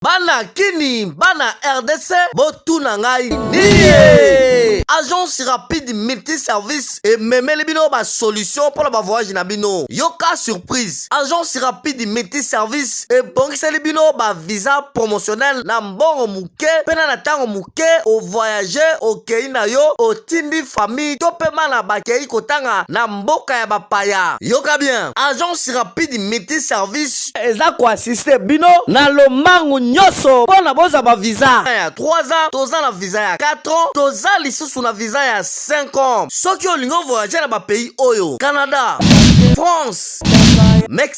Bana kini, bana RDC, botuna ngai niye. Agence rapide multiservice ememeli bino ba solution mpo na ba voyage na bino. Yoka surprise. Agence rapide multiservice ebongiseli bino ba visa promotionnel na mbongo moke mpe na ntango moke o voyage okei na yo otindi famille to mpe bana bakei kotanga na mboka ya bapaya yoka bien agence rapide multi service eza koassiste bino na lombangu nyonso mpo na bozwa ba visa ya 3 ans toza na visa ya 4 ans toza lisusu na visa ya 5 ans soki olingi ovoyage na bapays oyo canada france mexique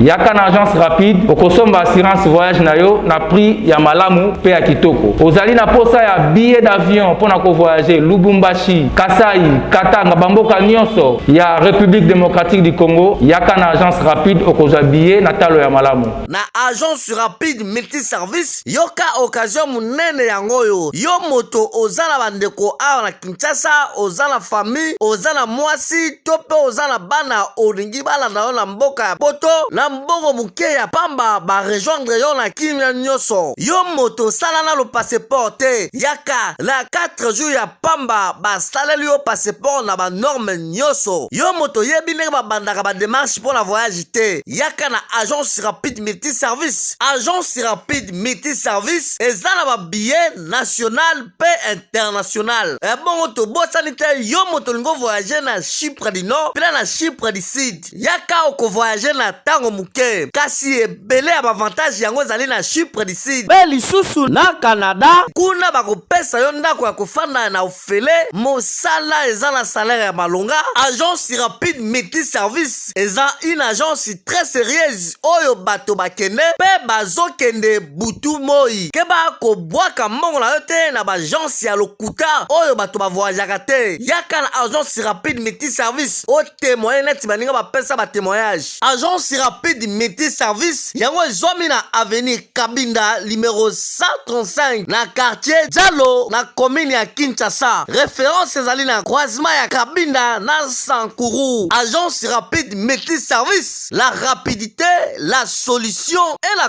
Yaka na agence rapide okosomba assurance voyage na yo na prix ya malamu mpe ya kitoko. Ozali na posa ya billet d'avion mpo na kovoyager Lubumbashi, Kasai, Katanga, bamboka nyonso ya République démocratique du Congo, yaka na agence rapide okozwa billet na talo ya malamu. Na agence rapide multiservice, yoka occasion monene yango oyo yo moto oza na bandeko awa na Kinshasa, oza na famille, oza na mwasi to mpe oza na bana olingi balanda yo na mboka ya poto na mbongo moke ya pamba ba rejoindre yo na kimia nyonso. Yo moto sala nano passeport te, yaka na 4 jours ya pamba basaleli yo passeport na ba norme nyonso. Yo moto yebi ndenge babandaka ba demarche mpo na voyage te, yaka na agence rapide multiservice. Agence rapide multiservice eza na ba billets national paix internationale ebongo eh, tobosani te yo moto olingi ovoyage na chypre du nord mpena na chypre du sud yaka okovoyage na ntango moke kasi ebele ya bavantage yango ezali na chypre du sud mpe lisusu na canada kuna bakopesa yo ndako ya kofanda na ofele mosala eza na salaire ya malonga agence rapide multi service eza une agence très sérieuse oyo bato bakende mpe bazokende butu moi keba kobwaka mbongo na yo te na baagence ya lokuta oyo bato bavoyajaka te yaka na agence rapide multi service otemoye neti baninga bapesa batemoyage agence rapide multi service yango ezwami na avenir kabinda limero 135 na quartier jalo na komine ya kinshasa reference ezali na croisement ya kabinda na sankuru agence rapide multi service la rapidité la solution et la